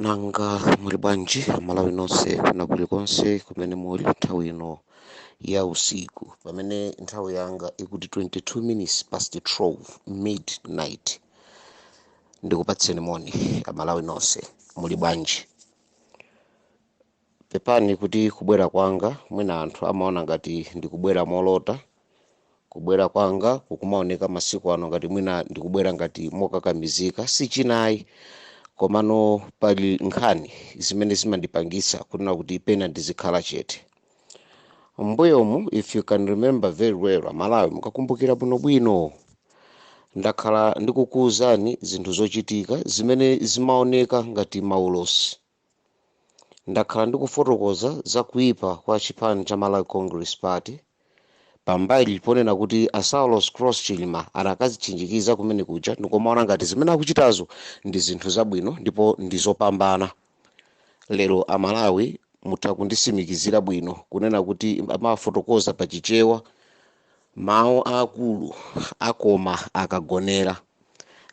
nanga muli bwanji amalawi nonse kuna kulikonse kumene muli nthawi ino ya usiku pamene nthawi yanga ikuti 22 minutes past 12 midnight ndikupatseni moni amalawi nonse muli bwanji Pepani kuti kubwera kwanga mwina anthu amaona ngati ndikubwera molota, kubwera kwanga kukumaoneka masiku ano ngati mwina ndikubwera ngati mokakamizika, si china ayi komano pali nkhani zimene zimandipangitsa kunena kuti pena ndizikhala chete. M'mbuyomu if you can remember very well Amalawi, mukakumbukira bwinobwino, ndakhala ndikukuwuzani zinthu zochitika zimene zimaoneka ngati maulosi. Ndakhala ndikufotokoza za kuipa kwa chipani cha Malawi Congress Party pambali ponena kuti a Saulos Klaus Chilima anakazitchinjikiza kumene kuja ndikomaona ngati zimene akuchitazo ndi zinthu zabwino ndipo ndi zopambana. Lero a Malawi mutha kundisimikizira bwino kunena kuti amafotokoza pa Chichewa Mawu a akulu akoma akagonera.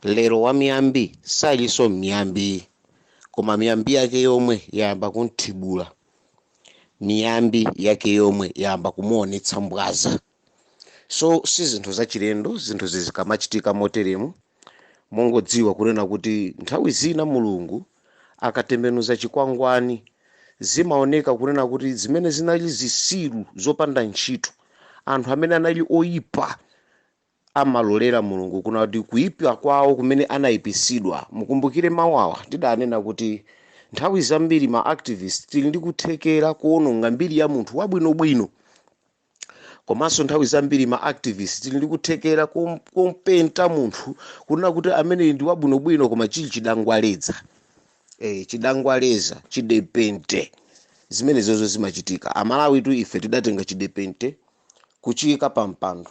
Lero wamiyambi salinso miyambi, koma miyambi yake yomwe yayamba kum'thibula. Miyambi yake yomwe yayamba kumuonetsa mbwaza. So si zinthu zachilendo zinthuzi zikamachitika moteremu. mongodziwa kunena kuti nthawi zina mulungu akatembenuza chikwangwani zimaoneka kunena kuti zimene zinali zisiru zopanda ntchito anthu amene anali oyipa amalolera mulungu kunena kuti kuyipa kwawo kumene anayipisidwa mukumbukire mawu awa tidanena kuti nthawi zambiri ma activist tili ndi kuthekera kuononga mbiri ya munthu wabwinobwino komanso nthawi zambiri ma activist tili ndi kuthekera kumpenta munthu kunena kuti ameneyi ndi wabwinobwino koma chili chidangwaleza, chidangwaleza chidepente zimenezozo zimachitika amalawitu ife tidatenga chidepente kuchiyika pa mpando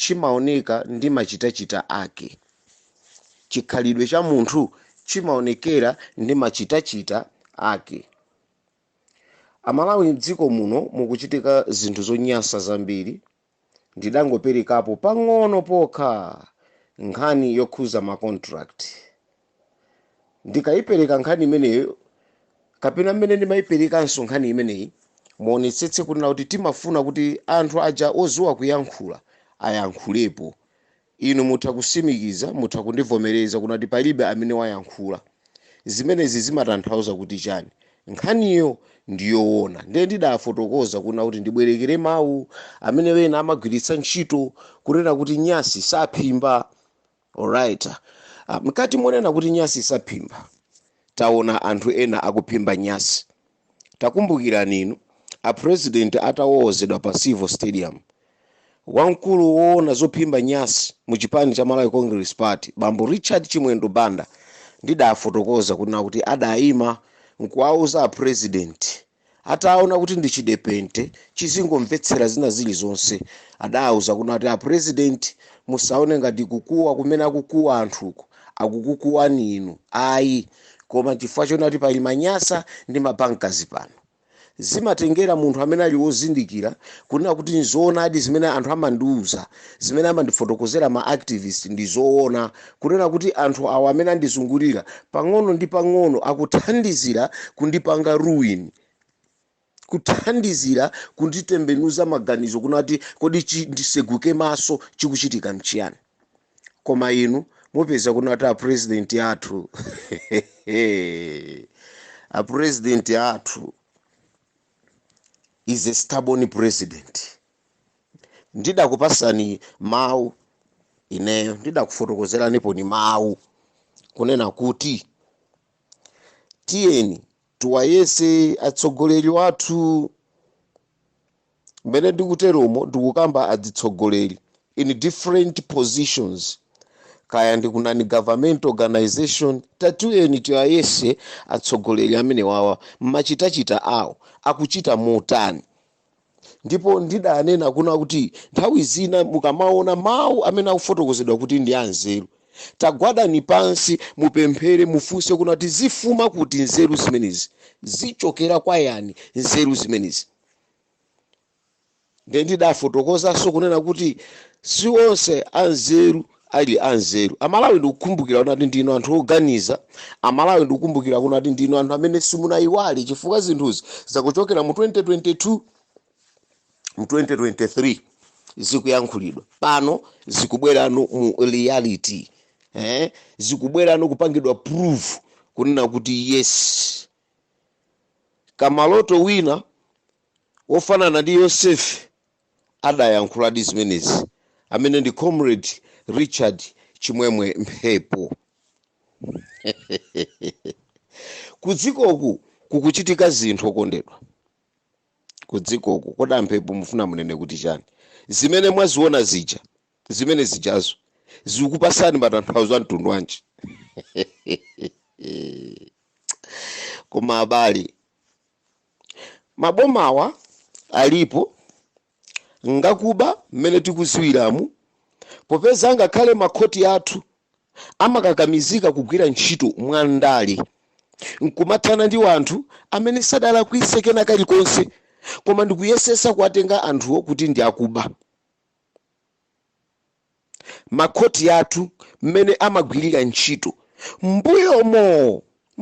chimaoneka ndi machitachita ake. Chikhalidwe cha munthu chimaonekera ndi machitachita ake. Amalawi mdziko muno mukuchitika zinthu zonyansa zambiri. Ndidangoperekapo pang'ono pokha nkhani yokhuza ma contract. ndikayipereka nkhani imeneyo kapena mmene ndimayiperekanso nkhani imeneyi muonetsetse kunena kuti timafuna kuti anthu aja oziwa kuyankhula ayankhulepo inu mutha kusimikiza mutha kundivomereza kunena kuti palibe amene wayankhula zimenezi zimatanthauza kuti chani nkhaniyo ndiyowona ndiye ndidafotokoza kunena kuti ndibwerekere mawu amene wena amagwiritsa ntchito kunena kuti nyasi saphimba Alright. Ah, mkati monena kuti nyasi isaphimba. Taona anthu ena akuphimba nyasi. Takumbukirani inu a president atawowozedwa pa Civo Stadium. Wamkulu woona zophimba nyasi mu chipani cha Malawi Congress Party, bambo Richard Chimwendo Banda ndidafotokoza kunena kuti adayima nkuwauza a president ataona kuti ndi chidepente chizingomvetsera zina zilizonse adauza kunati a president musaone ngati kukuwa kumene akukuwa anthuko akukukuwani inu ayi koma chifukwa choti ati pali ma Nyasa ndi ma Bankers pano zimatengera munthu amene ali wozindikira kunena kuti nzoonadi zimene anthu amandiuza zimene amandifotokozera ma activist ndi zoona Kunena kuti anthu awa amene andizungulira pang'ono ndi pang'ono akuthandizira kundipanga ruin, kuthandizira kunditembenuza maganizo kunati kodi chi, ndiseguke maso chikuchitika nchiyani? Koma inu mupeza kunati a president athu a president athu is a stubborn president. ndidakupasani mawu ineyo ndidakufotokozeraniponso mawu kunena kuti tiyeni tiwayese atsogoleri wathu mmene ndikuteromo ndikukamba adzitsogoleri in different positions kaya ndi ku non-government organization tatiyeni tiwayese atsogoleri amene wawa mmachitachita awo akuchita motani Ndipo ndidanena kuna kuti nthawi zina mukamaona mau amene akufotokozedwa kuti ndi anzeru, tagwadani pansi, mupemphere, mufunse kunati zifuma kuti nzeru zimenezi? Zichokera kwa yani nzeru zimenezi? Ndiye ndidafotokozanso kunena kuti si onse anzeru ali anzeru. Amalawi ndikukumbukira kunati ndinu anthu oganiza, Amalawi ndikukumbukira kunati ndinu anthu amene simunaiwale chifukwa zinthuzi zikuchokera mu 2022 mu 2023 zikuyankhulidwa pano zikubwerano mu reality eh? zikubwerano kupangidwa prove kunena kuti yes kamaloto wina wofanana ndi yosefe adayankhuladi zimenezi amene ndi comrade richard chimwemwe mphepo kudzikoku kukuchitika zinthu okondedwa kudzikoku kodi a Mphepo mufuna munene kuti chani zimene mwaziona zija zimene zijazo zikupasani matanthauzo a mtundu wanji koma abale Mabomawa alipo ngakuba mmene tikuziwiramu popeza ngakhale makhoti athu amakakamizika kugwira ntchito mwandale nkumathana ndi wanthu amene sadalakwise kena kalikonse koma ndikuyesesa kuwatenga anthuwo kuti ndi akuba. makhoti athu mmene amagwirira ntchito.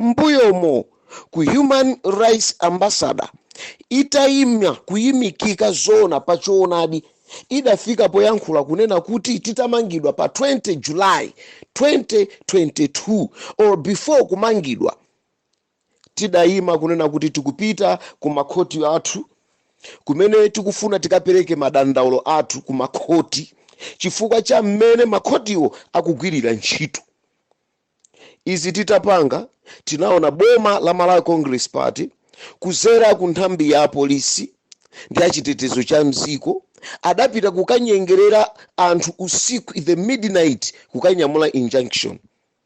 Mmbuyomo ku Human Rights Ambassador itaima kuimikika zoona pa choonadi idafika poyankhula kunena kuti titamangidwa pa 20 July 2022 or before kumangidwa, Tidayima kunena kuti tikupita ku makhoti athu kumene tikufuna tikapereke madandaulo athu ku makhoti chifukwa cha mmene makhotiwo akugwirira ntchito. Izi titapanga, tinaona boma la Malawi Congress Party kudzera ku nthambi ya polisi ndi achitetezo cha m'dziko adapita kukanyengerera anthu usiku, the midnight, kukanyamula injunction.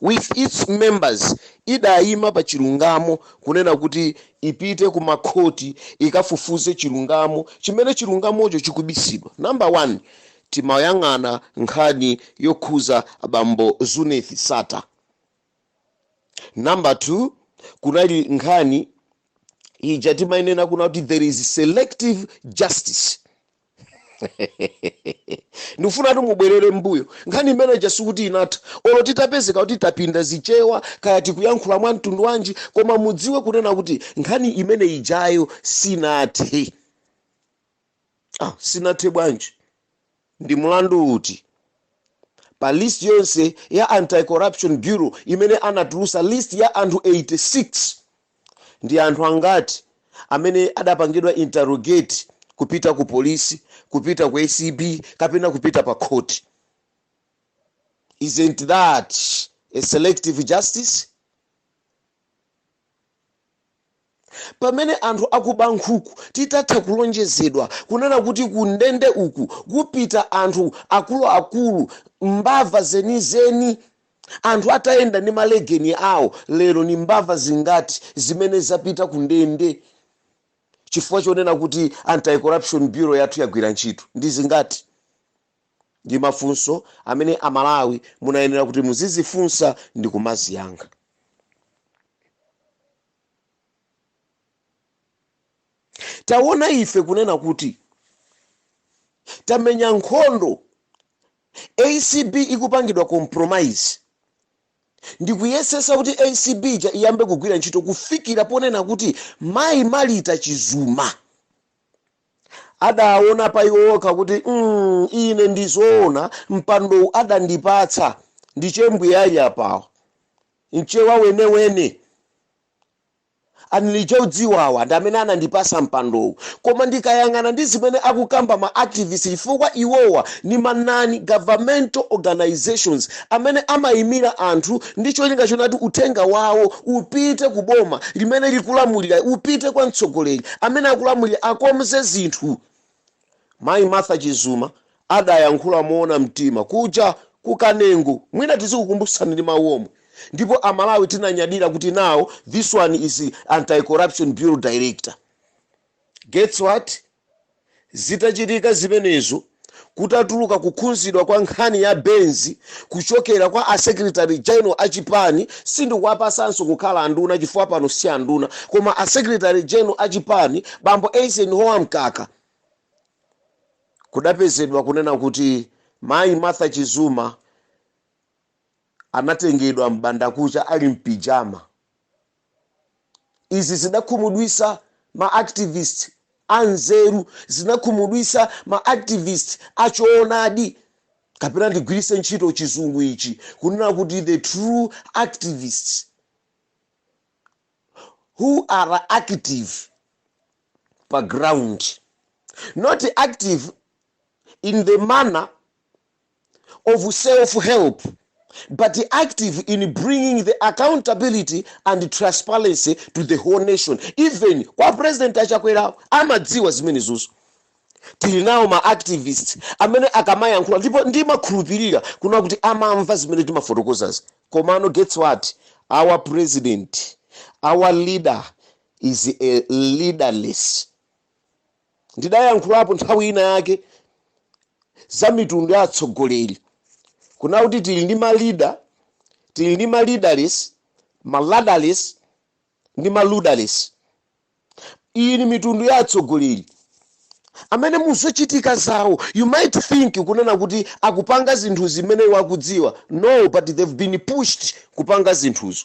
with its members idaima pa chilungamo kunena kuti ipite ku makhoti ikafufuze chilungamo chimene chilungamocho chikubisidwa number one timayang'ana nkhani yokhuza abambo Zuneth Sattar number two kunali nkhani ija timainena kunena kuti there is selective justice ndikufuna kuti mubwerere m'mbuyo nkhani imene ija sikuti inatha olo titapezeka kuti tapinda zichewa kaya tikuyankhula mwa mtundu wanji koma mudziwe kunena kuti nkhani imene ijayo sinathe, sinathe bwanji ndi mulandu uti pa list yonse ya anti-corruption bureau imene anatulusa list ya anthu 86 Ndi anthu angati amene adapangidwa interrogate kupita ku polisi, kupita ku ACB kapena kupita pa khoti? Isn't that a selective justice? Pamene anthu akuba nkhuku titatha kulonjezedwa kunena kuti ku ndende uku kupita anthu akuluakulu, mbava zenizeni, Anthu atayenda ndi malegeni awo lero, ni mbava zingati zimene zapita ku ndende chifukwa chonena kuti Anti-Corruption Bureau yathu yagwira ntchito? Ndi zingati? Ndi mafunso amene Amalawi munayenera kuti muzizifunsa ndi kumaziyankha. Tawona ife kunena kuti tamenya nkhondo Acb ikupangidwa compromise ndikuyesesa kuti acb iyambe kugwira ntchito kufikira ponena kuti mayi Malita Chizuma adaawona pa iwo okha kuti mm ine ndizoona mpandowu adandipatsa ndi chimbwi ayi apawa mchewa wenewene. Ali chodziwa awa ndi amene anandipasa mpandowu koma ndikayang'ana ndi zimene akukamba ma activist chifukwa iwowa ndi ma non governmental organisations amene amayimira anthu ndi cholinga chonati uthenga wawo upite ku boma limene likulamulira upite kwa mtsogoleri amene akulamulira akonze zinthu Mayi Martha Chizuma adayankhula moona mtima kuja ku Kanengo mwina tizikukumbutsani ndi mawu omwe ndipo a Malawi tinanyadira kuti now this one is Anti Corruption Bureau Director. Guess what? Zitachitika zimenezo kutatuluka kukhudzidwa kwa nkhani ya Benzi, kuchokera kwa a secretary general a chipani sindikuwapasanso kukhala anduna chifukwa pano si anduna koma a secretary general a chipani bambo Eisenhower Mkaka kudapezedwa kunena kuti mayi Martha Chizuma anatengedwa m'bandakucha ali mpijama Izi zidakhumudwitsa ma activist a nzeru, zinakhumudwitsa ma activist a choonadi, kapena ndigwiritse ntchito chizungu ichi kunena kuti the true activists who are active pa ground, not active in the manner of self help but active in bringing the accountability and transparency to the whole nation even kwa president a Chakwerawo amadziwa zimenezozo tili nawo ma activist amene akamayankhula ndipo ndimakhulupirira kuna kuti amamva zimene timafotokozazi komano guess what our president our leader is a leaderless Ndidayankhulapo nthawi ina yake za mitundu ya atsogoleri, kunena kuti tili ndi ma leader, tili ndi ma leaderless, ma ladderless ndi ma luderless. Iyi ni mitundu ya atsogoleri amene mu zochitika zawo you might think kunena kuti akupanga zinthu zimene iwo akudziwa, no, but they've been pushed kupanga zinthuzo.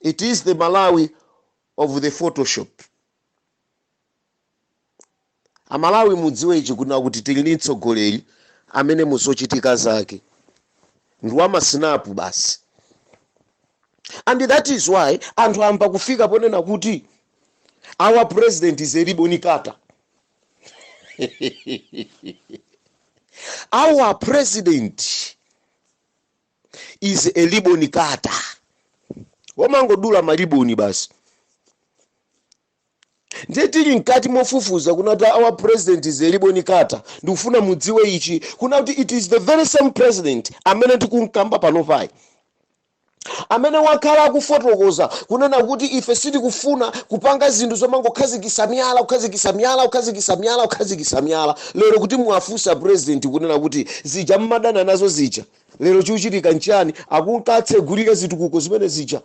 It is the Malawi of the photoshop. Amalawi mudziwe ichi kuna kuti tili ndi mtsogoleri amene muzochitika zake ndi wamasinapu basi and that is why anthu ayamba kufika ponena kuti our president is a ribbon cutter our president is a ribbon cutter womangodula maliboni basi ndiye tili mkati mofufuza kuna kuti our president is a ribbon cutter ndikufuna mudziwe ichi kuna kuti it is the very same president amene tikumkamba pano payi amene wakhala akufotokoza kunena kuti ife sitikufuna kupanga zinthu zomangokhazikisa miyala kukhazikisa miyala kukhazikisa miyala kukhazikisa miyala lero kuti muwafunse president kunena kuti zija mmadana nazo zija lero chikuchitika nchani akunka natsegulira zitukuko zimene zija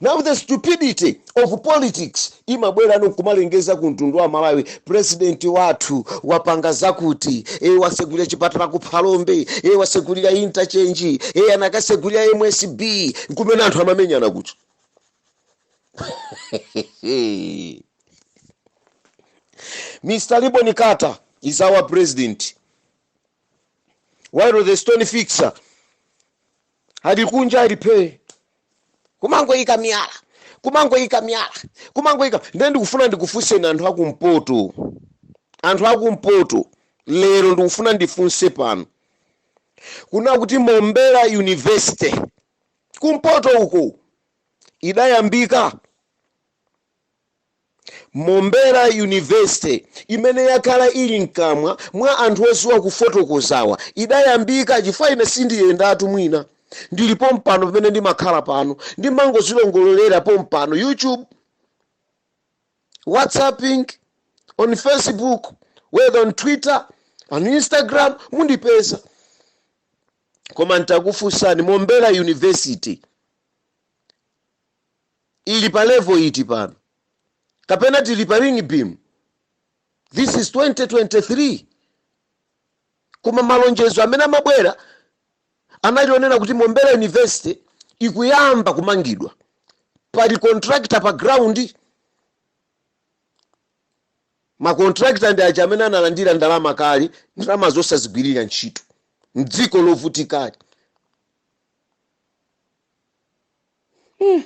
now the stupidity of politics imabwera no nkumalengeza ku mtundu wa malawi president wathu wapanga zakuti e wasegulira chipatala ku phalombe e wasegulira interchange e anakasegulira msb kumene anthu amamenyana kuja mr ribbon cutter is our president while the stone fixer ali kunja ali phee kumangoyika miyala kumangoyika miyala kumangoyika ndiye ndikufuna ndikufunseni anthu akumpoto anthu akumpoto lero ndikufuna ndifunse pano kuna kuti mombera university kumpoto uko idayambika Mombera University, imene yakhala ili mkamwa mwa anthu oziwa kufotokozawa, idayambika chifukwa ine sindiyendatu mwina ndili pompano pamene ndimakhala pano ndimangozilongololera pompano YouTube, whatsapping, on Facebook, whether on Twitter, on Instagram mundipeza. Koma nditakufunsani Mombera University, ili pa level iti pano kapena tili pa ring beam this is 2023 koma malonjezo amene amabwera anali onena kuti mombera university ikuyamba kumangidwa pali contractor pa ground makontrakita ndi aja amene analandira ndalama kale ndalama zosazigwirira ntchito mdziko lovutikali hmm.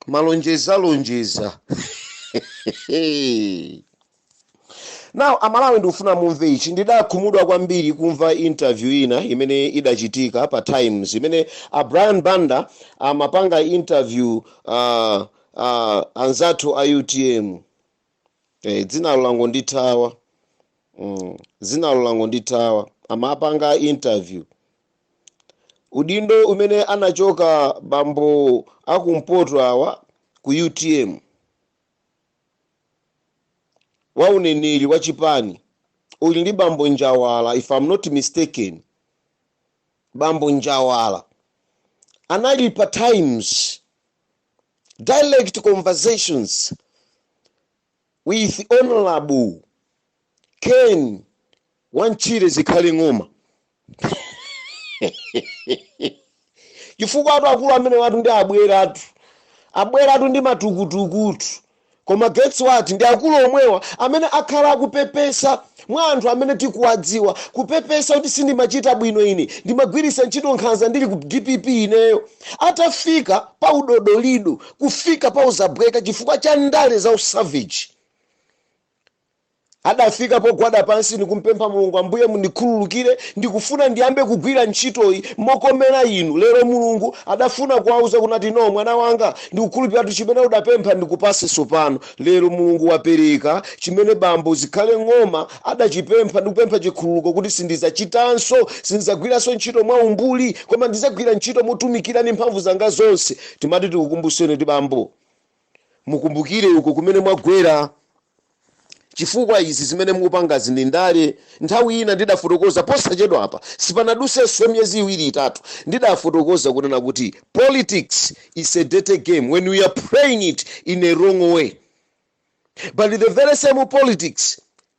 malonjeza lonjeza now amalawi ndikufuna mumve ichi ndidakhumudwa kwambiri kumva interview ina imene idachitika pa times imene a brian banda amapanga interview uh, uh, anzathu a utm eh, dzinalo langondithawa mm, dzinalo langondithawa amapanga interview udindo umene anachoka bambo akumpoto awa ku utm wa uneneri wa chipani uli ndi bambo njawala if I'm not mistaken bambo njawala anali pa times direct conversations with honorable ken wantchire, zikhale ng'oma chifukwa awatu akulu amenewatu ndi abweratu abweratu ndi matukutukutu Koma guess what ndi akulu omwewa amene akhala akupepesa mwa anthu amene tikuwadziwa, kupepesa kuti sindimachita bwino ine, ndimagwiritsa ntchito nkhanza ndili ku dpp ineyo. Atafika pa udodolido, kufika pa uzabweka chifukwa cha ndale za usavage. adafika pogwada pansi ndikumpempha mulungu ambuye mundikhululukire ndikufuna ndiyambe kugwira ntchitoyi mokomera inu lero mulungu adafuna kuwauza kunena kuti no mwana wanga ndikukhululukira tu chimene udapempha ndikupase tsopano lero mulungu wapereka chimene bambo zikhale ng'oma adachipempha ndikupempha chikhululuko kuti sindizachitanso sinzagwiranso ntchito mwa umbuli koma ndizagwira ntchito motumikira ndi mphamvu zanga zonse timati tikukumbuseni kuti bambo mukumbukire uko kumene mwagwera chifukwa izi zimene mukupangazi ndi ndale nthawi ina ndidafotokoza posachedwa apa sipanadutsenso miyezi iwiri itatu ndidafotokoza kunena kuti politics is a dirty game when we are playing it in a wrong way but the very same politics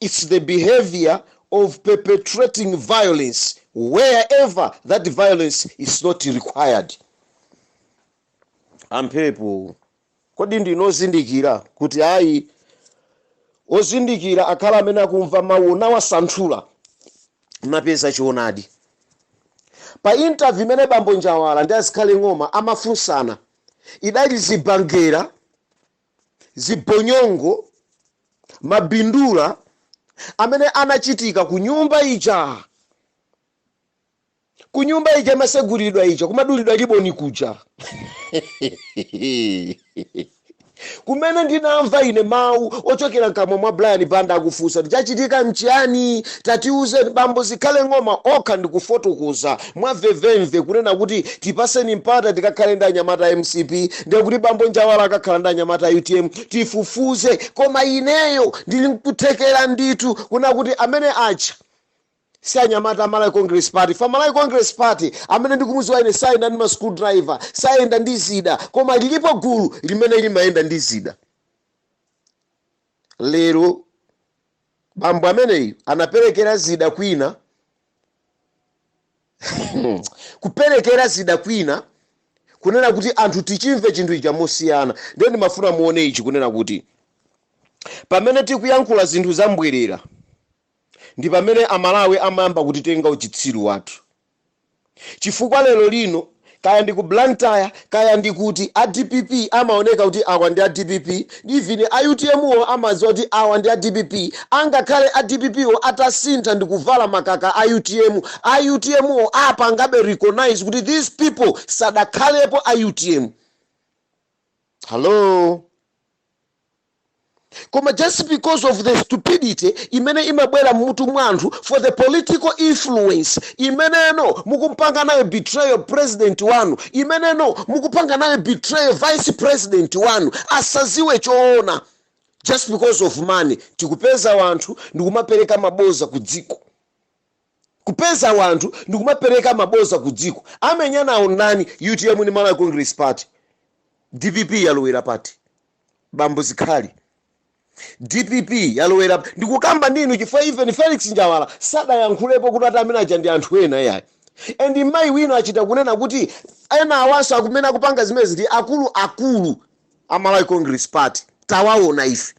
it's the behavior of perpetrating violence wherever that violence is not required amphepo kodi ndinu ozindikira kuti ayi ozindikira akhale amene akumva mawu nawasanthula napeza choonadi pa interview imene bambo njawala ndi azikhale ng'oma amafunsana idali zibangera zibonyongo, mabindula amene anachitika ku nyumba ija, ku nyumba ija imaseguliridwa ija, kumadulidwa liboni kuja kumene ndinamva ine mawu ochokera mkamwa mwa brian banda akufunsa kuti chachitika mchiyani tatiuzeni bambo zikhale ng'oma okha ndikufotokoza mwamvemvemve kunena kuti tipatseni mpata tikakhale ndi anyamata a mcp ndiye kuti bambo Njawala akakhala ndi anyamata a utm tifufuze koma ineyo ndili nkuthekera ndithu kunena kuti amene aja si anyamata a Malawi Congress Party chifukwa Malawi Congress Party amene ndikumudziwa ine sayenda ndi ma screw driver sayenda ndi zida koma lilipo gulu limene limayenda ndi zida lero Bambo ameneyu anaperekera zida kwina kuperekera zida kwina kunena kuti anthu tichimve chinthu ichi mosiyana ndiye ndimafuna muone ichi kunena kuti pamene tikuyankhula zinthu za mbwerera ndi pamene amalawi amayamba kutitenga uchitsiru wathu chifukwa lero lino kaya ndi ku Blantyre kaya ndi kuti a dpp amaoneka kuti awa ndi a dpp even a utm wo amadziwa kuti awa ndi a dpp angakhale a dpp wo atasintha ndikuvala makaka a utm, a utm wo apangabe recognize kuti these people sadakhalepo a utm. Hello? koma just because of the stupidity imene imabwera mmutu mwa anthu for the political influence imeneno mukumpanga nayo betrayal president wanu imeneno mukupanga nayo betrayal vice president wanu asadziwe choona just because of money tikupeza wanthu ndikumapereka maboza ku dziko kupeza wanthu ndikumapereka maboza ku dziko amenyanawo ndani utm ndi malawi congress party dpp yalowera pati bambo zikhale dpp yalowera ndikukamba ndinu chifukwa even felix njawala sadayankhulepo kuti ati amene aja ndi anthu ena yayi and mayi wino achita kunena kuti enawanso amene akupanga zimenezi ndi akulu akulu a malawi congress party tawaona ife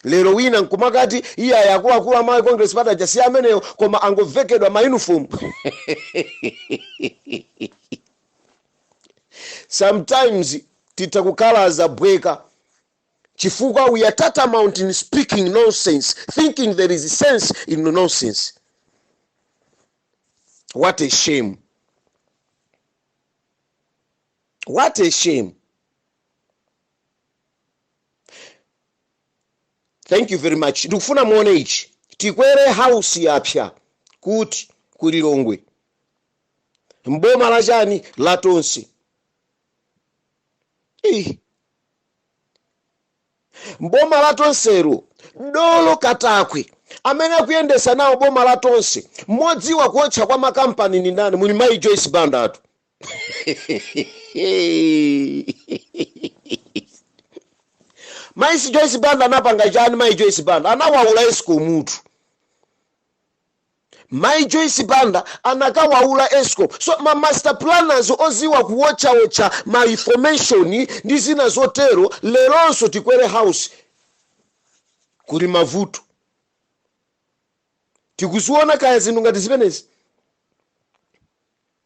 Lero wina nkumakati iyayi akuluakulu a Malawi Congress Party aja si ameneyo koma angovekedwa ma uniform. Sometimes titha kukhala za bweka chifukwa we are tantamount in speaking nonsense thinking there is sense in nonsense. What a shame. What a shame. thank you very much ndikufuna muone ichi tikwere house yapsa kuti ku lilongwe mboma la chani la tonse Ih. mboma la tonselo dolo katakwe amene akuyendesa nawo boma la tonse modziwa kuotcha kwa makampani ni ndani muli mayi joyce banda atu mayi si joyce banda anapanga chani mayi joyce banda anawaula escom mutu mayi joyce banda anakawaula escom so ma master planners oziwa kuwotchawotcha ma information ndi zina zotero leronso tikwere house kuli mavuto tikuziona kaya zinthu ngati zimenezi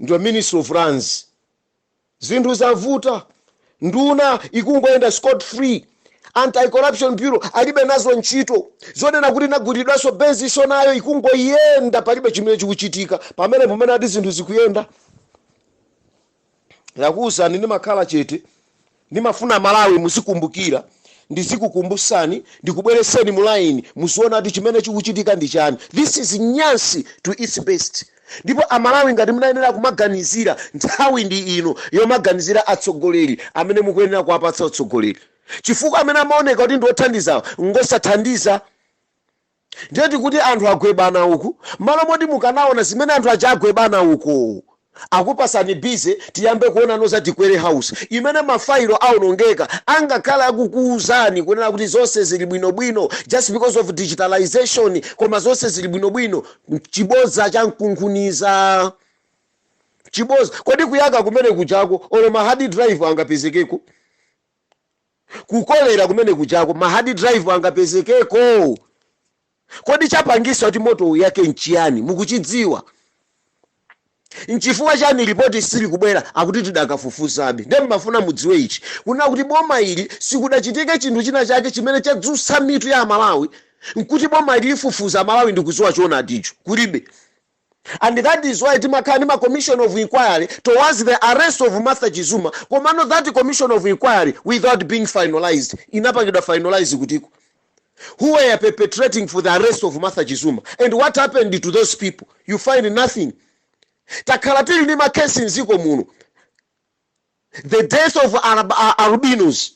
Ndiye minister of lands zinthu zavuta nduna ikungoyenda scot free anti corruption bureau alibe nazo ntchito zonena kuti inagulidwanso bezi so nayo ikungoyenda palibe chimene chikuchitika pamene pomene ati zinthu zikuyenda ndakuwuzani ndimakhala chete Ndimafuna amalawi muzikumbukila ndizikukumbusani ndikubweleseni mu line muziona kuti chimene chikuchitika ndi chani this is nyansi to its best ndipo amalawi ngati munayenera kumaganizira nthawi ndi ino yomaganizira atsogoleri amene mukuyenera kuwapatsa utsogoleri chifukwa amene amaoneka kuti ndi othandiza ngosathandiza Ndiye tikuti anthu agwebana uku mmalo moti mukanaona zimene anthu aja agwebana uku akupasani busy tiyambe kuonano za tikwere house imene ma file aonongeka angakhale akukuuzani kunena kuti zonse zili bwino bwino just because of digitalisation koma zonse zili bwino bwino chibodza cha nkunkhuniza chibodza kodi kuyaka kumene kujako olo ma hard drive angapezekeko Kukolera kumene kujako ma hard drive angapezekeko? Kodi chapangisa kuti moto uyake nchiyani mukuchidziwa? Nchifukwa chani lipoti silikubwera akuti tidakafufuzabe. Ndiye mumafuna mudziwe ichi kunena kuti boma ili sikudachitike chinthu china chake chimene chadzutsa mitu ya amalawi nkuti boma ili lifufuza amalawi ndikuziwa choonadicho kulibe. and that is why timakhala ndi ma commission of inquiry towards the arrest of Martha Chizuma komano that commission of inquiry without being finalized inapangidwa finalize kutiko who were perpetrating for the arrest of Martha Chizuma and what happened to those people you find nothing takhala tili ndi makesi mdziko muno the death of Arab- a- albinos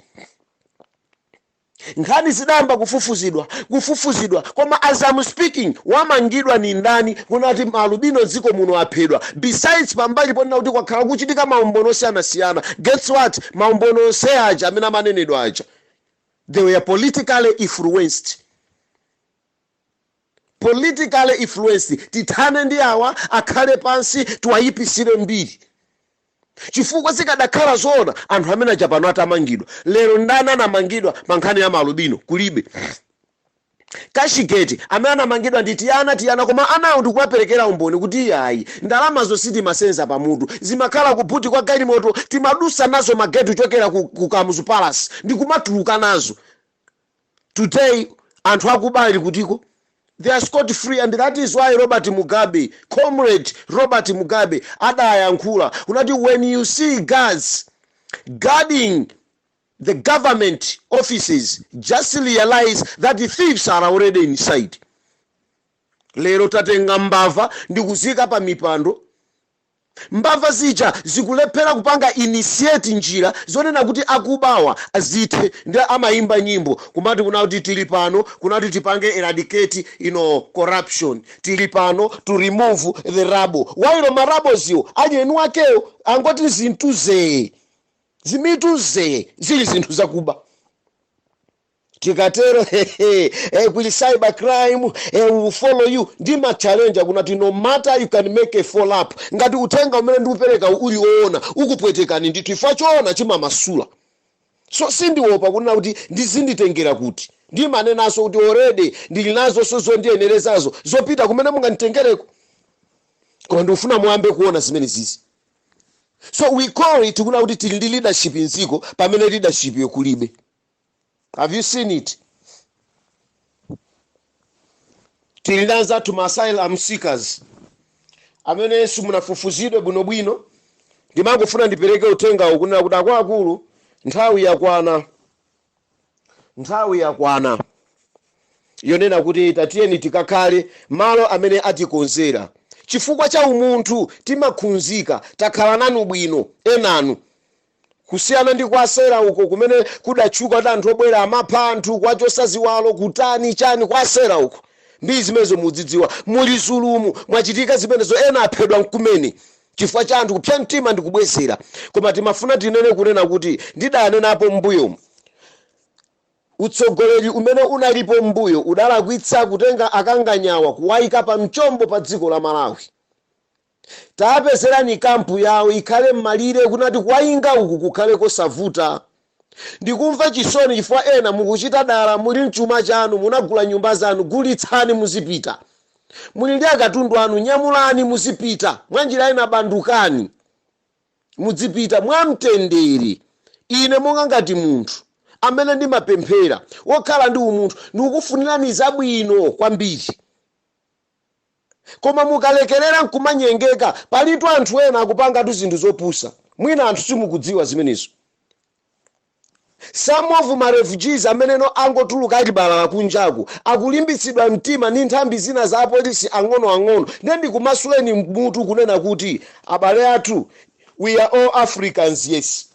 Nkhani zidayamba kufufuzidwa kufufuzidwa koma as I'm speaking wamangidwa ndi ndani kunena kuti ma alubino dziko muno aphedwa besides pambali ponena kuti kwakhala kukuchitika maumboni osiyanasiyana guess what maumboni onse aja amene amanenedwa aja they were politically influenced. politically influenced tithane ndi awa akhale pansi tiwayipisile mbiri chifukwa zikadakhala zoona anthu amene aja apa pano atamangidwa lero ndani anamangidwa pa nkhani ya maalubino kulibe kashigeti amene anamangidwa ndi tiana tiana koma anawo ndikumaperekera umboni kuti iyayi ndalamazo sitimasenza pamutu zimakhala ku buti kwa galimoto timadusa nazo mageti kuchokera ku, ku kamuzu palace ndikumatuluka nazo today anthu akuba ali kutiko they are scot free and that is why robert mugabe comrade robert mugabe adayankhula unati when you see guards guarding the government offices just realize that the thieves are already inside lero tatenga mbava ndikuzika pa mipando Mbava zija zikulephera kupanga initiate njira zonena kuti akubawa azithe ndi amayimba nyimbo kumati kunena kuti tili pano kunena kuti tipange eradicate you know corruption, tili pano to remove the rubble while ma rubbles'wo ali eniwakewo angoti zimituzee, zimituzee zili zinthu zakuba. tikatero hehe kuli cyber crime eh, will follow you ndimachalenja kunati no matter you can make a follow up ngati uthenga umene ndikupereka uli woona ukupwetekani ndithu ifwa choona chimamasula so sindiopa kunena kuti ndizinditengera kuti ndimanenanso kuti already ndili nazonso zondiyenerezazo zopita kumene munganditengereko koma ndikufuna muyambe kuona zimenezizi so we call it kunena kuti tili ndi leadership mdziko pamene leadership yo kulibe have you seen it tili ndi anzathu ma asylum seekers amene simunafufuzidwe bwinobwino ndimangofuna ndipereke uthengawo kunena kuti akuluakulu nthawi yakwana nthawi yakwana yonena kuti tatiyeni tikakhale malo amene atikonzera chifukwa cha umunthu timaphunzika takhala nanu bwino enanu Kusiyana ndi kwa Sera uko kumene kudatchuka kuti anthu obwera amapha anthu, kuwachosa ziwalo, kutani, chani, kwa Sera uko. Ndi zimenezo mudzidziwa. Mu Lizulumu, mwachitika zimenezo, ena aphedwamo kumene chifukwa cha anthu kupsya mtima ndi kubwezera. Koma timafuna tinene kunena kuti ndidanenapo m'mbuyomu, utsogoleri umene unalipo m'mbuyo udalakwitsa kutenga akanganyawa kuwaika pa mchombo pa dziko la Malawi. tapezerani kampu yawo ikhale mmalire kunati kuwayinga uku kukhale kosavuta. ndikumva chisoni chifukwa ena mukuchita dala muli n'chuma chanu munagula nyumba zanu gulitsani muzipita. muli ndi akatundu anu nyamulani muzipita mwanjira ina bandukani mudzipita mwa mtendere. ine monga ngati munthu amene ndimapemphera wokhala ndi umunthu ndikukufunirani zabwino kwambiri. Koma mukalekerera n'kumanyengeka, palitu anthu ena akupangatu zinthu zopusa. Mwina anthu simukudziwa zimenezo. Some of ma refugees ameneno angotuluka ali balalala kunjaku akulimbitsidwa mtima ndi nthambi zina za apolisi ang'onoang'ono nde ndikumasuleni mutu kunena kuti abale athu we are all Africans yes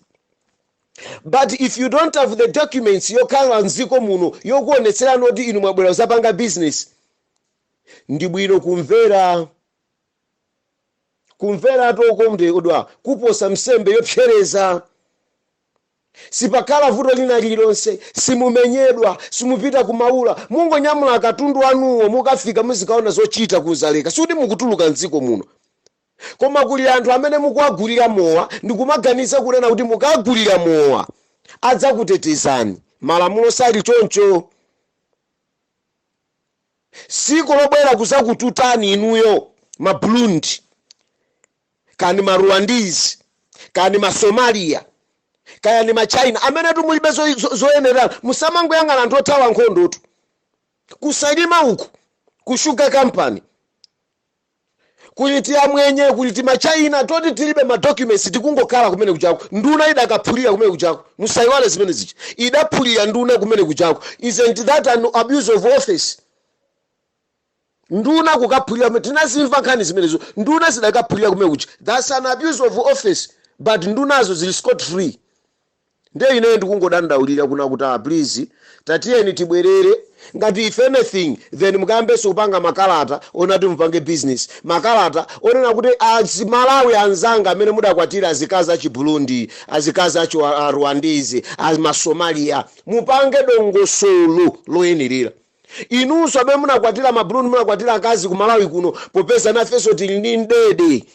but if you don't have the documents yokhala m'dziko muno yokuonetserani oti inu mwabwera kuzapanga business Ndi bwino kumvera, kumveratu okondedwa, kuposa nsembe yopsereza. Sipakhala vuto lina lililonse, simumenyedwa, simupita ku Maula, mungonyamula akatundu anuwo mukafika muzikaona zochita ku Dzaleka, sikuti mukutuluka m'dziko muno. Koma kuli anthu amene mukuwagulira mowa ndikumaganiza kunena kuti mukagulira mowa adzakutetezani, malamulo sali choncho. sikuti akubwera kuzakututani inuyo ma Burundi kaya ndi ma Rwandese kaya ndi ma somalia kaya ndi ma china amenetu mulibe zo- zo- zoyenerana musamangoyang'ana anthu othawa nkhondotu ku Salima uku ku sugar company kuli ti amwenye kuli ti machina toti tilibe ma documents tikungokhala kumene kuchako nduna idakaphulira kumene kuchako musaiwale zimene zija idaphulira nduna kumene kuchako isn't that an abuse of office nduna kukaphulira kumene tinazimva nkhani zimenezo nduna zidakaphulira kumene kuja that's an abuse of office but ndunazo zili scot-free Ndiye ine ndikungodandaulira kuna kuti a please tatiyeni tibwerere ngati if anything then mukayambenso kupanga makalata onena kuti mupange business, makalata onena kuti azi Malawi anzanga amene mudakwatira azikazi achi Burundi, azikazi achi a Rwandese, a ma Somalia. Mupange dongosolo loyenerera. Inunso amene munakwatira ma Burundi munakwatira akazi ku Malawi kuno popeza nafenso tili ndi mdidi.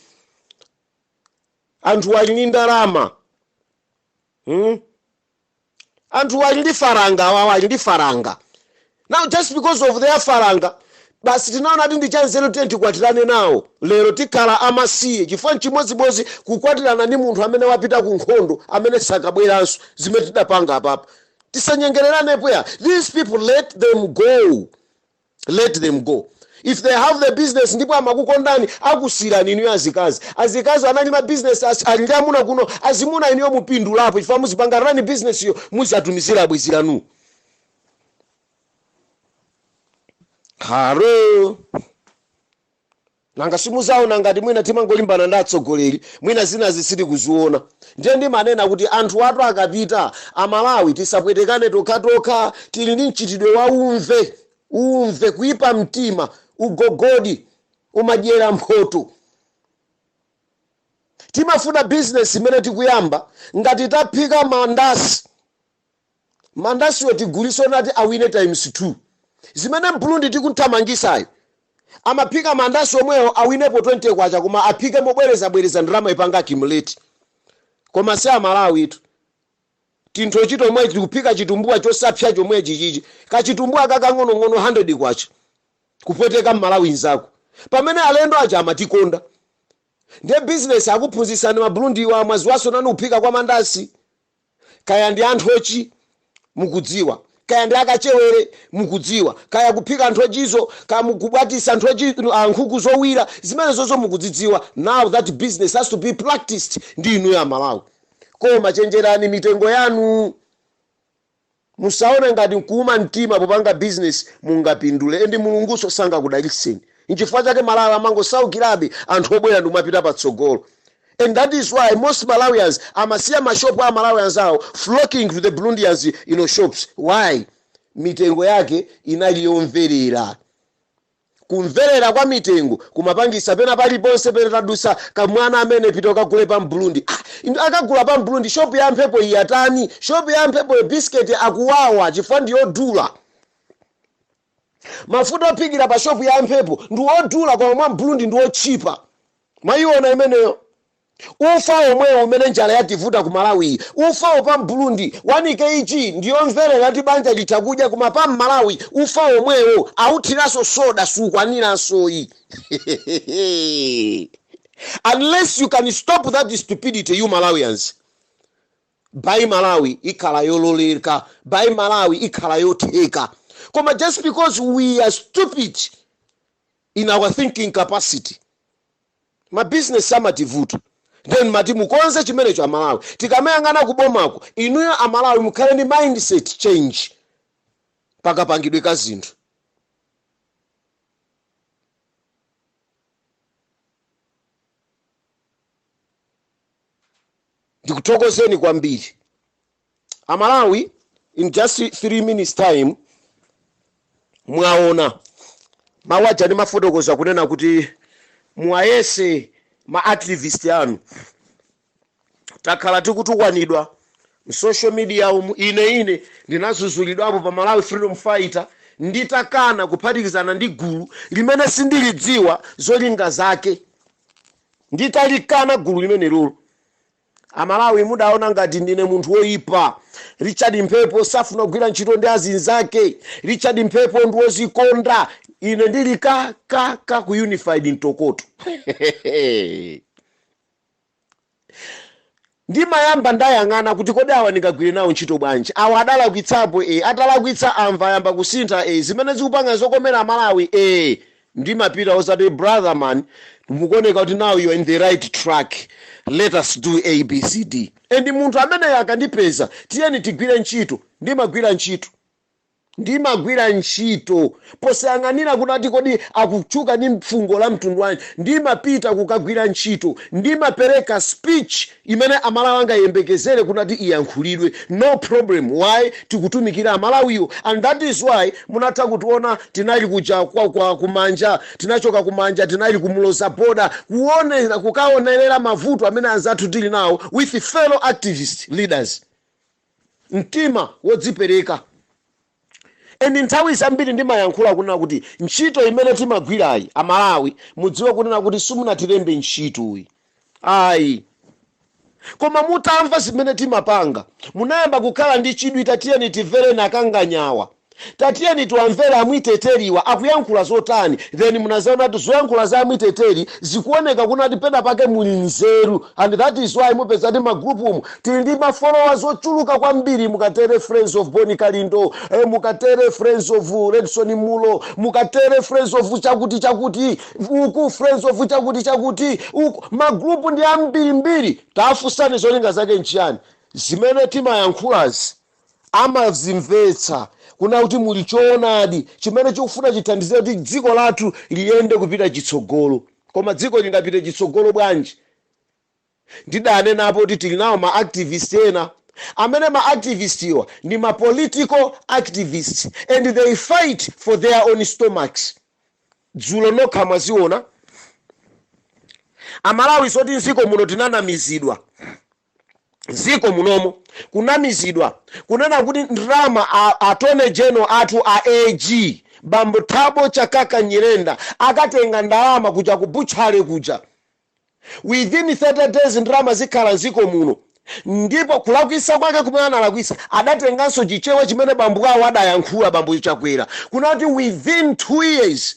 Anthuwa ali ndi ndalama. hmm? anthu ali ndi faranga awawa ali ndi faranga now just because of their faranga basi tinaona kuti ndi chanzeru tiye tikwatirane nawo lero tikhala amasiye chifukwa nchimodzimodzi kukwatirana ndi munthu amene wapita ku nkhondo amene sakabweranso zimene tidapanga apapa tisanyengererenepo ya these people let them go let them go if they have the business ndipo amakukondani akusiyirani inuyo azikazi azikazi anali ma business as- ali ndi amuna kuno azimuna inuyo mupindulapo chifukwa muzipanga run business yo muzatumizira bwenzi lanu haro Nanga simuzaona ngati mwina timangolimbana ndi atsogoleri mwina zinazi sitili kuziona. Ndiye ndimanena kuti anthuwatu akapita, amalawi tisapwetekane tokhatokha tili ndi mchitidwe wa umve umve, kuipa mtima, ugogodi, umadyera mphoto. Timafuna business imene tikuyamba ngati taphika mandasi. Mandasiwo tigulise kuti awine times 2 zimene mbulundi tikuthamangisayu amaphika mandasi omwewo awinepo K20 koma aphike mobweleza bweleza ndalama ipanga accumulate koma si amalawitu tinthochi tomweti tikuphika chitumbuwa chosapsya chomwechichichi kachitumbuwa kakang'ono ng'ono K100 kupweteka mmalawi nzako pamene alendo aja amatikonda ndiye business akuphunzisani mabulundiwa mwaziwaso nanu kaphikidwe kwa mandasi. kaya ndi a nthochi mukudziwa kaya ndi akachewere mukudziwa kaya kuphika nthochizo kaya mukubwatisa nthochi ah, nkhuku zowira zimenezozo mukudzidziwa now that business has to be practiced ndi inuyo amalawi koma chenjerani mitengo yanu Musaone ngati nkuuma mtima popanga business mungapindule and Mulungunso sangakudalitseni nchifukwa chake mmalawi amangosaukirabe anthu obwera ndikumapita patsogolo and that is why most Malawians amasiya ma shop a amalawi anzawo flocking to the Burundians you know shops why? mitengo yake inali yomverera. Kumverera kwa mitengo kumapangisa pena paliponse pena tadusa kamwana amene pita ukagule pa mbulundi ah inu akagula pa mbulundi shop ya mphepo iyi yatani shop ya mphepoyo biscuit akuwawa chifukwa ndi odula mafuta ophikira pa shop ya mphepo ndi wodula koma mwa mbulundi ndi otchipa mwaiona imeneyo Ufa womwewo umene njala yativuta ku Malawiyi ufa wapa m'Burundi 1 Kg ndiyomverera kuti banja litha kudya koma pa m'Malawi ufa womwewo awuthilaso soda sukwanilasoyi hehehehe unless you can stop that stupidity you Malawians buy Malawi ikhala yololeka buy Malawi ikhala yotheka koma just because we are stupid in our thinking capacity. Ma business amativuta nde ndimati mukonze chimenecho amalawi tikamayang'ana ku bomako inuyo amalawi mukhale ndi mindset change pa kapangidwe ka zinthu. Ndikuthokozeni kwambiri. A Malawi in just 3 minutes time mwaona mawu aja ndimafotokoza kunena kuti muwayese ma activist anu takhala tikutukwanidwa msocial media umu ine ine ndinazuzulidwapo pa malawi freedom fighter nditakana kuphatikizana ndi gulu limene sindilidziwa zolinga zake nditalikana gulu limenelolo Amalawi mudaona ngati ndine munthu woipa? Richard Mphepo safuna kugwira ntchito ndi azinzake. Richard Mphepo ndi wozikonda. Ine ndili ka ka ka ku Unified Ntokoto. Ndimayamba ndayang'ana kuti kodi awa ndingagwire nawo ntchito bwanji? Awa adalakwitsapo ee. Atalakwitsa amva ayamba kusintha ee. Zimene akupanga zokomera Amalawi ee. ndimapita osati brother man mukuoneka kuti now you're in the right track let us do abcd and munthu amene akandipeza tiyeni tigwire ntchito ndimagwira ntchito ndimagwira ntchito posayang'anira kunati kodi akutchuka ndi mfungo la mtundu wanji ndimapita kukagwira ntchito ndimapereka speech imene amalawi angayiyembekezele kunati iyankhulidwe no problem why tikutumikira amalawiwo and that is why munatha kutiona tinali kuja kwa kwa kumanja tinachoka kumanja tinali ku muloza border kuona kukaonerera mavuto amene anzathu tili nawo with fellow activist leaders mtima wodzipereka And nthawi zambiri ndimayankhula kunena kuti ntchito imene timagwirayi a Malawi mudziwe kunena kuti simunatilembe ntchitoyi ayi koma mutamva zimene timapanga munayamba kukhala ndi chidwi tatiyeni tivere nakanganyawa tatiyeni tiwamvere amwiteteliwa akuyankhula zotani then munazaona kuti zoyankhula za amwiteteli zikuoneka kunena kuti pena pake muli nzeru And that is why mupeza kuti ma group umu tili ndi ma followers ochuluka kwambiri mukatere friends of Boni Kalindo eh, mukatere friends of Redson Munlo mukatere friends of chakuti chakuti uku friends of chakuti chakuti uku ma group ndi ambirimbiri tafunsani zolinga zake nchiyani zimene timayankhulazi amazimvetsa kunena kuti muli choonadi chimene chikufuna chithandizire kuti dziko lathu liyende kupita chitsogolo. Koma dziko lingapite chitsogolo bwanji? Ndidanenapo kuti tili nawo ma activist ena amene ma activist-wa ndi ma political activist and they fight for their own stomachs. Dzulo nokha mwaziona. Amalawi zoti m'dziko muno tinanamizidwa. ziko munomo kunamizidwa kunena kuti ndrama a atone general athu a AG bambo Thabo Chakaka Nyirenda akatenga ndalama kuja ku butchery kuja within 30 days ndrama zikhala mziko muno ndipo kulakwisa kwake kumene analakwisa adatenganso chichewa chimene bambo awo adayankhula bambo Chakwera kunati within 2 years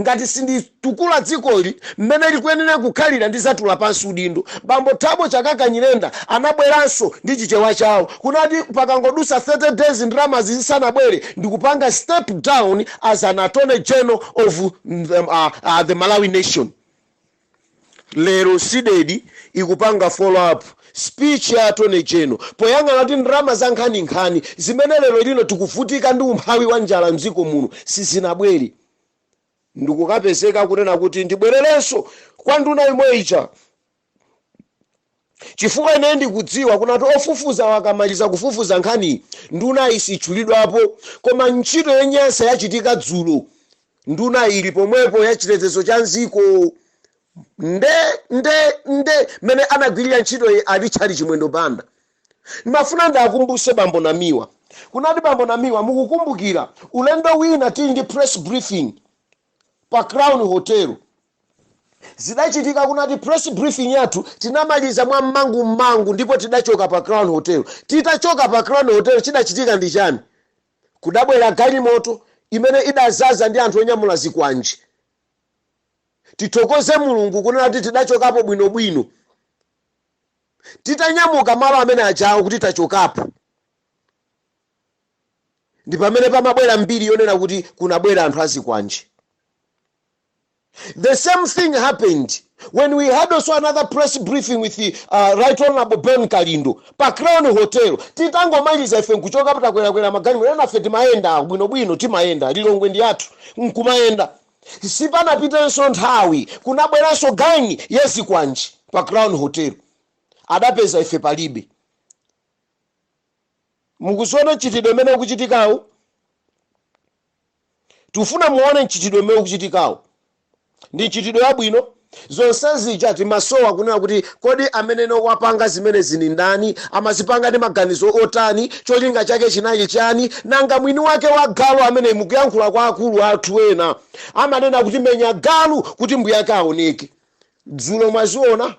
Ngati sinditukula dzikoli mmene likuyenera kukhalira ndizatula pansi udindo. Bambo Thabo Chakaka Nyirenda anabweranso ndi chichewa chawo kunati pakangodusa 30 days ndalamazi zisanabwere ndikupanga step down as an Attorney General of the Malawi Nation. Lero Cdedi ikupanga follow up speech ya Attorney General poyang'ana kuti ndalama za nkhaninkhani zimene lero lino tikuvutika ndi umphawi wa njala m'dziko muno sizinabwere ndikukapezeka kunena kuti ndibwererenso kwa nduna yomwe ija. Chifukwa ine ndikudziwa kunati ofufuza akamaliza kufufuza nkhani, nduna isatchulidwapo. Koma ntchito yonyansa yachitika dzulo, nduna ili pomwepo, ya chitetezo cha m'dziko, nde, nde, nde, m'mene anagwirira ntchitoyi a Richard Chimwendo Banda. Ndimafuna ndiakumbutse Bambo Namiwa, kunati Bambo Namiwa, mukukumbukira, ulendo wina tili ndi press briefing, pa crown hotel zidachitika kunati press briefing yathu tinamaliza mwa mmangu mmangu ndipo tidachoka pa crown hotel titachoka pa crown hotel chidachitika ndi chani kudabwera galimoto imene idazaza ndi anthu onyamula zikwanje tithokoze mulungu kunena kuti tidachokapo bwinobwino titanyamuka malo amene ajawo kuti tachokapo ndi pamene pamabwera mbiri yonena kuti kunabwera anthu azikwanje the same thing happened when we had also another press briefing with the, uh, right honorable bon kalindo pa crown hotel titangomaliza ife nkuchoka patakwerakwera magalimoto enafe timayenda bwinobwino timayenda lilongwe ndi wathu nkumayenda sipanapitenso nthawi kunabweranso gangi yazikwanje pa crown hotel adapeza ife palibe Mukuziona mchitidwe umene ukuchitikawu? Tikufuna muone mchitidwe umene ukuchitikawu. Ndi mchitidwe wabwino? Zonse zija timasowa kunena kuti kodi amene wapanga zimenezi ndi ndani, amazipanga ndi maganizo otani, cholinga chake chinali chani? Nanga mwini wake wa galu ameneyu mkuyankhula kwa akuluakulu athu ena amanena kuti menya galu kuti mbuyake aoneke. Dzulo mwaziona?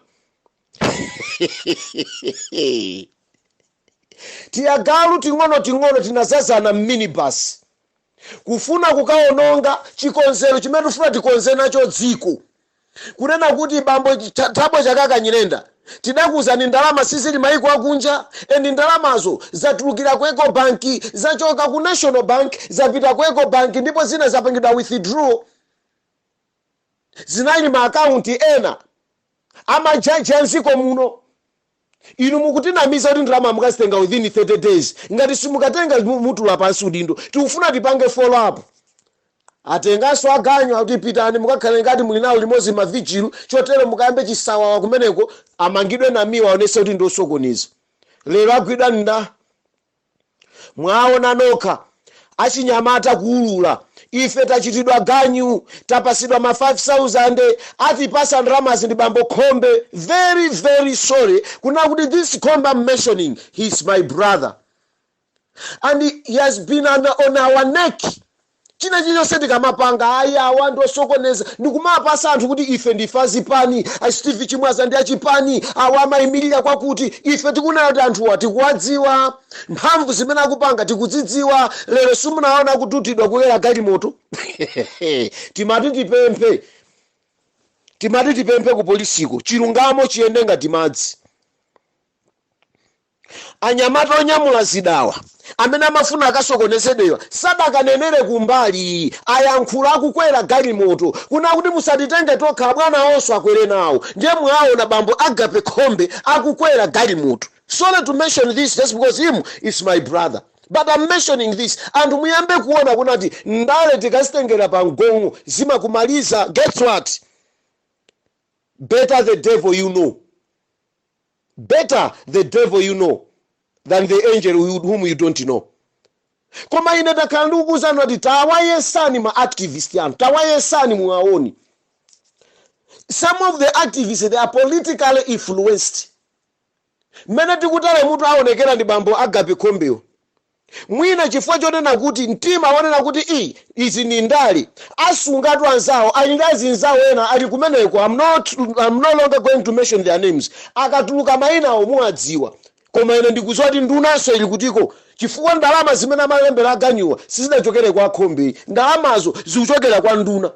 tiyagalu ting'onoting'ono tinazazana m'minibasi kufuna kukawononga chikonzero chimene tifuna tikonze nacho dziko kunena kuti bambo Thabo chakaka nyirenda tidakuuzani ndalama sizili maiko akunja and ndalamazo zatulukira ku eco bank zachoka ku national bank zapita ku eco bank ndipo zina zapangidwa withdraw zinali ma account ena amajaji a m'dziko muno inu mukutinamiza kuti ndalama mukazitenga within 30 days ngati simukatenga mu- mutula pansi udindo tikufuna tipange follow up atenganso aganyu akuti pitani mukakhale ngati muli nawo limodzi mavijilu chotero mukayambe chisawawa kumeneko amangidwe namiwa aonese kuti ndiosokoneza lero agwidwa nda Mwaona nokha, achinyamata kuulula, ife tachitidwa ganyu, tapasidwa ma 5000, atipasa ndalamazi ndi bambo Khombe, very very sorry kunena kuti this Khombe am mentioning, he is my brother and he has been on our neck. china chilichonse tikamapanga ayi awa ndi osokoneza ndikumapasa anthu kuti ife ndife azipani a steve chimwaza ndi achipani awa amayimirira kwakuti ife tikunena kuti anthuwa tikuwadziwa mphamvu zimene akupanga tikudzidziwa lero simunaona akututidwa kukwera galimoto timati tipemphe timati tipemphe ku polisiko chilungamo chiyende ngati madzi Anyamata onyamula zidawa amene amafuna akasokoneze awa sadakanenere kumbali, ayankhula akukwera galimoto. Kunena kuti musatitenge tokha abwana awonso akwere nawo ndiye mwaona bambo Agape Khombe akukwera galimoto. Sorry to mention this just because him is my brother but am mentioning this anthu muyambe kuona kunati ndale tikazitengera pa mgongo zimakumaliza guess what? Better the devil you know. Better the devil you know than the angel whom you don't know koma ine takhala ndikukuuzani kuti tawayesani ma activist anu tawayesani muwaone some of the activists they are politically influenced mmene tikuta lemu tu aonekera ndi bambo agape khombewo mwina chifukwa chonena kuti mtima wonena kuti ii izi ndi ndale asungatu anzawo ali ndi azinzawo ena ali kumeneko am no longer going to mention their names akatuluka mayinawo muwadziwa koma ine ndikudziwa kuti ndunanso ili kutiko chifukwa ndalama zimene amalembera aganyuwa sizidachokere kwa a khombe ayi ndalamazo zikuchokera kwa nduna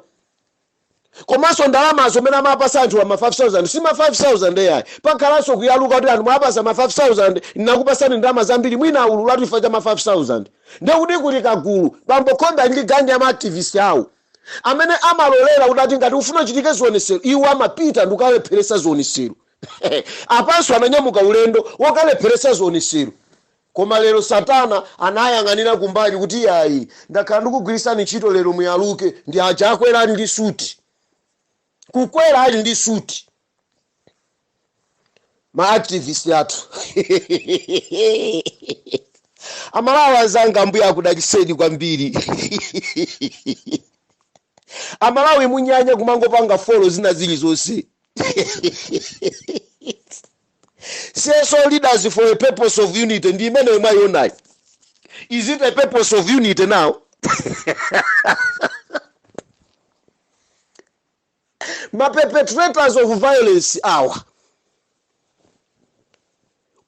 komanso ndalamazo mmene amapasa anthuwa ma 5000 si ma 5000 eyayi pakhalanso kuyaluka kuti anthu mwapasa ma 5000 nnakupasani ndalama zambiri mwina awululatu chifukwa cha ma 5000 ndiye kuti kuli kagulu bambo khombe ndi ganyu ya maaktivist awo amene amalolera kuti ati ngati ufuna uchitike zionesero iwo amapita ndikukalepheresa zionesero apanso ananyamuka ulendo wokalepheresa zionesero Koma lero satana anayang'anira kumbali kuti yayi ndakhala ndikugwirisani ntchito lero muyaluke ndi aja akwera ali ndi suti. Kukwera ali ndi suti. Ma activist athu. Amalawi anzanga Ambuye akudaliseni kwambiri. Amalawi munyanya kumangopanga follow zina zilizonse. Cso leaders for a purpose of unity ndi imeneyo mwaionayi is it a purpose of unity now ma perpetrators of violence awa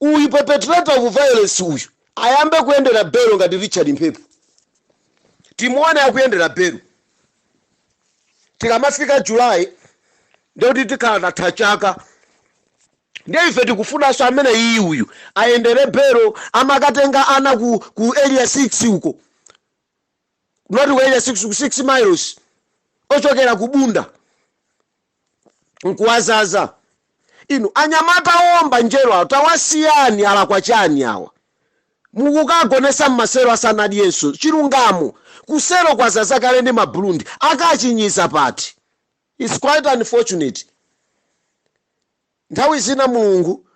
uyu perpetrator of violence uyu ayambe kuyendera belo ngati richard mphepo timuone akuyendera belo tikamafika july ndiye kuti tikhala tatha chaka ndiye ife tikufunanso amene iyi uyu ayendere belo amakatenga ana ku, ku area 6 uko not ku area 6 ku 6 miles ochokera ku bunda nkuwazaza inu anyamata owomba njerwa awo tawasiyani alakwa chani awa mukukagonesa mmaselo asanadyenso chilungamo kuselo kwazaza kale ndi ma burundi akachinyiza pati? its quite unfortunate nthawi zina mulungu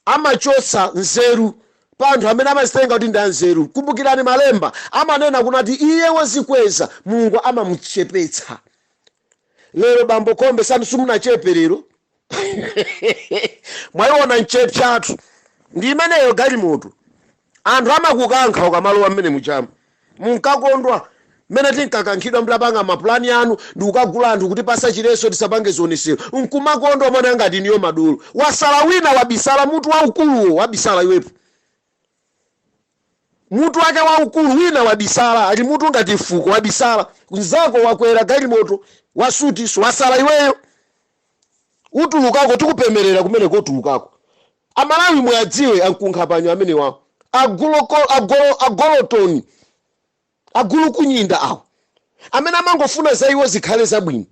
amachotsa nzeru pa anthu amene amazitenga kuti ndi anzeru. Kumbukirani malemba amanena kunati iye wozikweza Mulungu amamuchepetsa. Lero bambo Khombe sanu simunachepe lero? Mwaiona mwachepatu ndi imeneyo galimoto. Anthu amakukankha ukamalowa mmene mujamu. Munkakondwa mmene tinkakankhidwa mutapanga mapulani anu ndikukagula anthu kutipasa chileso tisapange zionesero. Nkumakondwa umaoneka ngati inuyo madolo. Wasala wina wabisala mutu waukuluwo wabisala iwepo. Mutu wake waukulu wina wabisala ali mutu ngati fuko wabisala. Nzako wakwera galimoto wa suti so wasala iweyo. Utulukako tikupemerera kumeneko utulukako. Amalawi muwadziwe ankunkhapanyo amenewa agolotoni agulukunyinda awo amene amangofuna za iwo zikhale zabwino.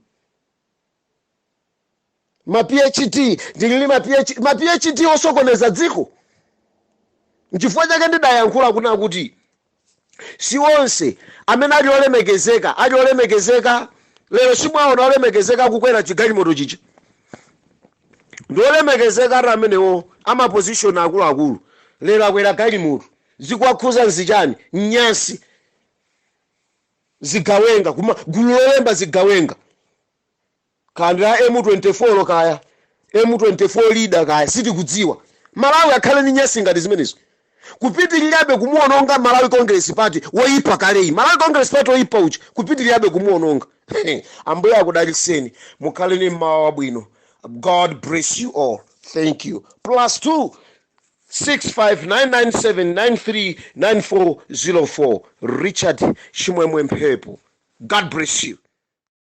Ma PhD ndili ndi ma PhD, ma PhD osokoneza dziko? Nchifukwa chake ndidayankhula kunena kuti Si onse amene ali olemekezeka ali olemekezeka lero. Simwaona olemekezeka akukwera chigalimoto chija? Ndi olemekezeka ati amenewo, a maposition akuluakulu. Lero akwera galimoto. Zikuwakhuza nzichani? Nyasi. Zigawenga, gulu lolemba zigawenga. Ka ndi la M24 kaya M24 leader kaya sitikudziwa. Malawi akhale ndi nyasi ngati zimenezo? Kupitilirabe kumuononga Malawi Congress Party woyipa kaleyi. Malawi Congress Party woyipa uja kupitilirabe kumuononga. Ambuye akudalitseni. Mukhale ndi mmawa wabwino. God bless you all. Thank you. Plus 2 65997939404 Richard Chimwemwe Mphepo. God bless you.